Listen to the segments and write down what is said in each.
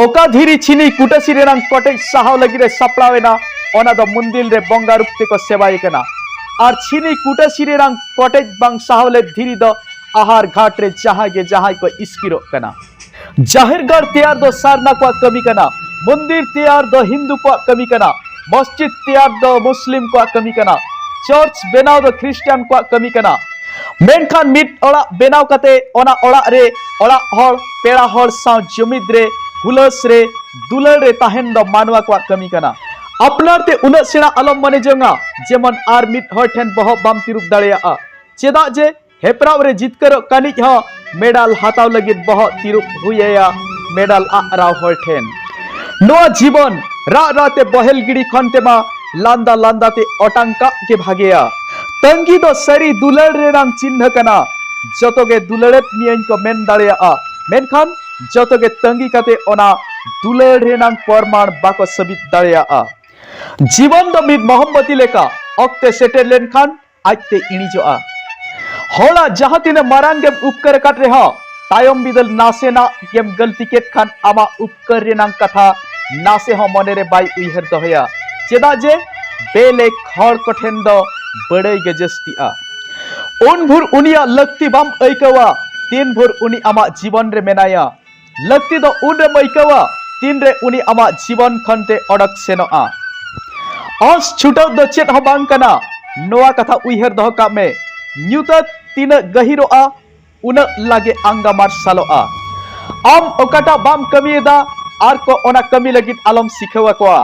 ᱚᱠᱟᱫᱷᱤᱨᱤ ᱪᱷᱤᱱᱤ ᱠᱩᱴᱟᱥᱤ ᱨᱮᱱᱟᱝ ᱠᱚᱴᱮᱡ ᱥᱟᱦᱟᱣ ᱞᱟᱹᱜᱤᱫ ᱮ ᱥᱟᱯᱲᱟᱣ ᱮᱱᱟ ᱚᱱᱟ ᱫᱚ ᱢᱩᱱᱫᱤᱞ ᱨᱮ ᱵᱚᱸᱜᱟ ᱨᱩᱯ ᱛᱮᱠᱚ ᱥᱮᱵᱟᱭᱮ ᱠᱟᱱᱟ ᱟᱨ ᱪᱷᱤᱱᱤ ᱠᱩᱴᱟᱥᱤ ᱨᱮᱱᱟᱝ ᱠᱚᱴᱮᱡ ᱵᱟᱝ ᱥᱟᱦᱟᱣ ᱞᱮᱫ ᱫᱷᱤᱨᱤ ᱫᱚ ᱟᱦᱟᱨ ᱜᱷᱟᱴ ᱨᱮ ᱡᱟᱦᱟᱸᱭ ᱜᱮ ᱡᱟᱦᱟᱸᱭ ᱠᱚ ᱤᱥᱠᱤᱨᱚᱜ ᱠᱟᱱᱟ ᱡᱟᱦᱮᱨ ᱜᱟᱲ ᱛᱮᱭᱟᱨ ᱫᱚ ᱥᱟᱨᱱᱟ ᱠᱚᱣᱟᱜ ᱠᱟᱹᱢᱤ ᱠᱟᱱᱟ ᱢᱩᱱᱫᱤᱞ ᱛᱮᱭᱟᱨ ᱫᱚ ᱦᱤᱱᱫᱩ ᱠᱚᱣᱟᱜ ᱠᱟᱹᱢᱤ ᱠᱟᱱᱟ ᱢᱚᱥᱡᱤᱫ ᱛᱮᱭᱟᱨ ᱫᱚ ᱢᱩᱥᱞᱤᱢ ᱠᱚᱣᱟᱜ ᱠᱟᱹᱢᱤ ᱠᱟᱱᱟ ᱪᱟᱨᱪ ᱵᱮᱱᱟᱣ ᱫᱚ ᱠᱷᱨᱤᱥᱴᱟᱱ ᱠᱚᱣᱟᱜ ᱠᱟᱹᱢᱤ ᱠᱟᱱᱟ ᱢᱮᱱᱠᱷᱟᱱ ᱢᱤᱫ ᱚᱲᱟᱜ ᱵᱮᱱᱟᱣ ᱠᱟᱛᱮ ᱚᱱᱟ ᱚᱲᱟᱜ ᱨᱮ ᱚᱲᱟᱜ ᱦᱚᱲ ᱯᱮᱲᱟ ᱦᱚᱲ ᱥᱟᱶ ᱡᱩᱢᱤᱫ ᱨᱮ ᱦᱩᱞᱟᱹᱥ ᱨᱮ ᱫᱩᱞᱟᱹᱲ ᱨᱮ ᱛᱟᱦᱮᱱ ᱫᱚ ᱢᱟᱱᱣᱟ ᱠᱚᱣᱟᱜ ᱠᱟᱹᱢᱤ ᱠᱟᱱᱟ ᱟᱯᱱᱟᱨ ᱛᱮ ᱩᱱᱟᱹᱜ ᱥᱮᱬᱟ ᱟᱞᱚᱢ ᱢᱚᱱᱮ ᱡᱚᱝᱟ ᱡᱮᱢᱚᱱ ᱟᱨ ᱢᱤᱫ ᱦᱚᱲ ᱴᱷᱮᱱ ᱵᱚᱦᱚᱜ ᱵᱟᱢ ᱛᱤᱨᱩᱵ ᱫᱟᱲᱮᱭᱟᱜᱼᱟ ᱪᱮᱫᱟᱜ ᱡᱮ ᱦᱮᱯᱨᱟᱣ ᱨᱮ ᱡᱤᱛᱠᱟᱹᱨᱚᱜ ᱠᱟᱹᱱᱤᱡ ᱦᱚᱸ ᱢᱮᱰᱟᱞ ᱦᱟᱛᱟᱣ ᱞᱟᱹᱜᱤᱫ ᱵᱚᱦᱚᱜ ᱛᱤᱨᱩᱵ ᱦᱩᱭ ᱟᱭᱟ ᱢᱮᱰᱟᱞ ᱟᱜ ᱨᱟᱣ ᱦᱚᱲ ᱴᱷᱮᱱ ᱱᱚᱣᱟ ᱡᱤᱵᱚᱱ ᱨᱟᱜ ᱨᱟᱜ ᱛᱮ ᱵᱚᱦᱮᱞ ᱜᱤᱰᱤ ᱠᱷᱚᱱ ᱛᱮᱢᱟ ᱞᱟᱸᱫᱟ ᱞᱟᱸᱫᱟ ᱛᱮ ᱚᱴᱟᱝ ᱠᱟᱜ ᱜᱮ ᱵᱷᱟᱜᱮᱭᱟ ᱛᱟᱺᱜᱤ ᱫᱚ ᱥᱟᱹᱨᱤ ᱫᱩᱞᱟᱹᱲ ᱨᱮᱱᱟᱝ ᱪᱤᱱᱦᱟᱹ ᱠᱟᱱᱟ ᱡᱚᱛᱚ ᱜᱮ ᱫᱩᱞᱟᱹᱲᱮᱫ ᱢᱤᱭᱟᱹᱧ ᱠᱚ ᱢᱮᱱ ᱫᱟᱲᱮᱭᱟᱜᱼᱟ ᱢᱮᱱᱠᱷᱟᱱ ᱡᱚᱛᱚ ᱜᱮ ᱛᱟᱺᱜᱤ ᱠᱟᱛᱮ ᱚᱱᱟ ᱫᱩᱞᱟᱹᱲ ᱨᱮᱱᱟᱝ ᱯᱚᱨᱢᱟᱬ ᱵᱟᱠᱚ ᱥᱟᱹᱵᱤᱛ ᱫᱟᱲᱮᱭᱟᱜᱼᱟ ᱡᱤᱵᱚᱱ ᱫᱚ ᱢᱤᱫ ᱢᱚᱦᱚᱢᱵᱚᱛᱤ ᱞᱮᱠᱟ ᱚᱠᱛᱮ ᱥᱮᱴᱮᱨ ᱞᱮᱱᱠᱷᱟᱱ ᱟᱡᱛᱮ ᱤᱬᱤᱡᱚᱜᱼᱟ ᱦᱚᱲᱟᱜ ᱡᱟᱦᱟᱸ ᱛᱤᱱᱟᱹᱜ ᱢᱟᱨᱟᱝ ᱜᱮᱢ ᱩᱯᱠᱟᱹᱨ ᱟᱠᱟᱫ ᱨᱮᱦᱚᱸ ᱛᱟᱭᱚᱢ ᱵᱤᱫᱟᱹᱞ ᱱᱟᱥᱮᱱᱟᱜ ᱜᱮᱢ ᱜᱟᱹᱞᱛᱤ ᱠᱮᱫ ᱠᱷᱟᱱ ᱟᱢᱟᱜ ᱩᱯᱠᱟᱹᱨ ᱨᱮᱱᱟᱝ ᱠᱟᱛᱷᱟ ᱱᱟᱥᱮ ᱦᱚᱸ ᱢᱚᱱᱮ ᱨᱮ ᱵᱟᱭ ᱩᱭᱦᱟᱹᱨ ᱫᱚᱦᱚᱭᱟ ᱪᱮᱫᱟᱜ ᱡᱮ ᱵᱮᱞᱮᱠ ᱦᱚᱲ ᱠᱚᱴᱷᱮᱱ ᱫᱚ ᱵᱟᱹᱲᱟᱹᱭ ᱜᱮ ᱡᱟᱹᱥᱛᱤᱜᱼᱟ ᱩᱱ ᱵᱷᱳᱨ ᱩᱱᱤᱭᱟᱜ ᱞᱟᱹᱠᱛᱤ ᱵᱟᱢ ᱟᱹᱭᱠᱟᱹᱣᱟ ᱛᱤᱱ ᱵᱷᱳᱨ ᱩᱱᱤ ᱟᱢᱟᱜ ᱡᱤᱵᱚᱱ ᱨᱮ ᱢᱮᱱᱟᱭᱟ ᱞᱟᱹᱠᱛᱤ ᱫᱚ ᱩᱱ ᱨᱮᱢ ᱟᱹᱭᱠᱟᱹᱣᱟ ᱛᱤᱱ ᱨᱮ ᱩᱱᱤ ᱟᱢᱟᱜ ᱡᱤᱵᱚᱱ ᱠᱷᱚᱱ ᱛᱮ ᱚᱰᱚᱠ ᱥᱮᱱᱚᱜᱼᱟ ᱟᱸᱥ ᱪᱷᱩᱴᱟᱹᱣ ᱫᱚ ᱪᱮᱫ ᱦᱚᱸ ᱵᱟᱝ ᱠᱟᱱᱟ ᱱᱚᱣᱟ ᱠᱟᱛᱷᱟ ᱩᱭᱦᱟᱹᱨ ᱫᱚᱦᱚ ᱠᱟᱜ ᱢᱮ ᱧᱩᱛᱟᱹᱛ ᱛᱤᱱᱟᱹᱜ ᱜᱟᱹᱦᱤᱨᱚᱜᱼᱟ ᱩᱱᱟᱹᱜ ᱞᱟᱜᱮ ᱟᱸᱜᱟ ᱢᱟᱨᱥᱟᱞᱚᱜᱼᱟ ᱟᱢ ᱚᱠᱟᱴᱟᱜ ᱵᱟᱢ ᱠᱟᱹᱢᱤᱭᱮᱫᱟ ᱟᱨ ᱠᱚ ᱚᱱᱟ ᱠᱟᱹᱢᱤ ᱞᱟᱹᱜᱤᱫ ᱟᱞᱚᱢ ᱥᱤᱠᱷᱟᱹᱣ ᱟᱠᱚᱣᱟ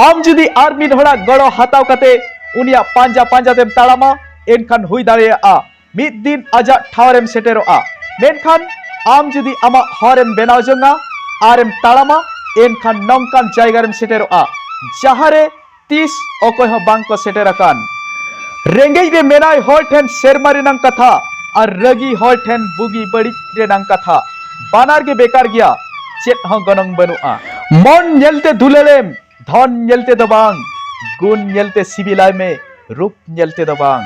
ᱟᱢ ᱡᱩᱫᱤ ᱟᱨ ᱢᱤᱫ ᱦᱚᱲᱟᱜ ᱜᱚᱲᱚ ᱦᱟᱛᱟᱣ ᱠᱟᱛᱮ ᱩᱱᱤᱭᱟᱜ ᱯᱟᱸᱡᱟ ᱯᱟᱸᱡᱟ ᱛᱮᱢ ᱛᱟᱲᱟᱢᱟ ᱮᱱᱠᱷᱟᱱ ᱦᱩᱭ ᱫᱟᱲᱮᱭᱟᱜᱼᱟ ᱢᱤᱫ ᱫᱤᱱ ᱟᱡᱟᱜ ᱴᱷᱟᱶ ᱨᱮᱢ ᱥᱮᱴᱮᱨᱚᱜᱼᱟ ᱢᱮᱱᱠᱷᱟᱱ ᱟᱢ ᱡᱩᱫᱤ ᱟᱢᱟᱜ ᱦᱚᱨ ᱮᱢ ᱵᱮᱱᱟᱣ ᱡᱚᱝᱟ ᱟᱨ ᱮᱢ ᱛᱟᱲᱟᱢᱟ ᱮᱱᱠᱷᱟᱱ ᱱᱚᱝᱠᱟᱱ ᱡᱟᱭᱜᱟ ᱨᱮᱢ ᱥᱮᱴᱮᱨᱚᱜᱼᱟ ᱡᱟᱦᱟᱸ ᱨᱮ ᱛᱤᱥ ᱚᱠᱚᱭ ᱦᱚᱸ ᱵᱟᱝ ᱠᱚ ᱥᱮᱴᱮᱨ ᱟᱠᱟᱱ ᱨᱮᱸᱜᱮᱡ ᱨᱮ ᱢᱮᱱᱟᱭ ᱦᱚᱲ ᱴᱷᱮᱱ ᱥᱮᱨᱢᱟ ᱨᱮᱱᱟᱝ ᱠᱟᱛᱷᱟ ᱟᱨ ᱨᱟᱹᱜᱤ ᱦᱚᱲ ᱴᱷᱮᱱ ᱵᱩᱜᱤ ᱵᱟᱹᱲᱤᱡ ᱨᱮᱱᱟᱝ ᱠᱟᱛᱷᱟ ᱵᱟᱱᱟᱨ ᱜᱮ ᱵᱮᱠᱟᱨ ᱜᱮᱭᱟ ᱪᱮᱫ ᱦᱚᱸ ᱜᱚᱱᱚᱝ ᱵᱟᱹᱱᱩᱜᱼᱟ ᱢᱚᱱ ᱧᱮᱞᱛᱮ ᱫᱩᱞᱟᱹᱲᱮᱢ ᱫᱷᱚᱱ ᱧᱮᱞ ᱛᱮᱫᱚ ᱵᱟᱝ ᱜᱩᱱ ᱧᱮᱞ ᱛᱮ ᱥᱤᱵᱤᱞᱟᱭ ᱢᱮ ᱨᱩᱯ ᱧᱮᱞ ᱛᱮᱫᱚ ᱵᱟᱝ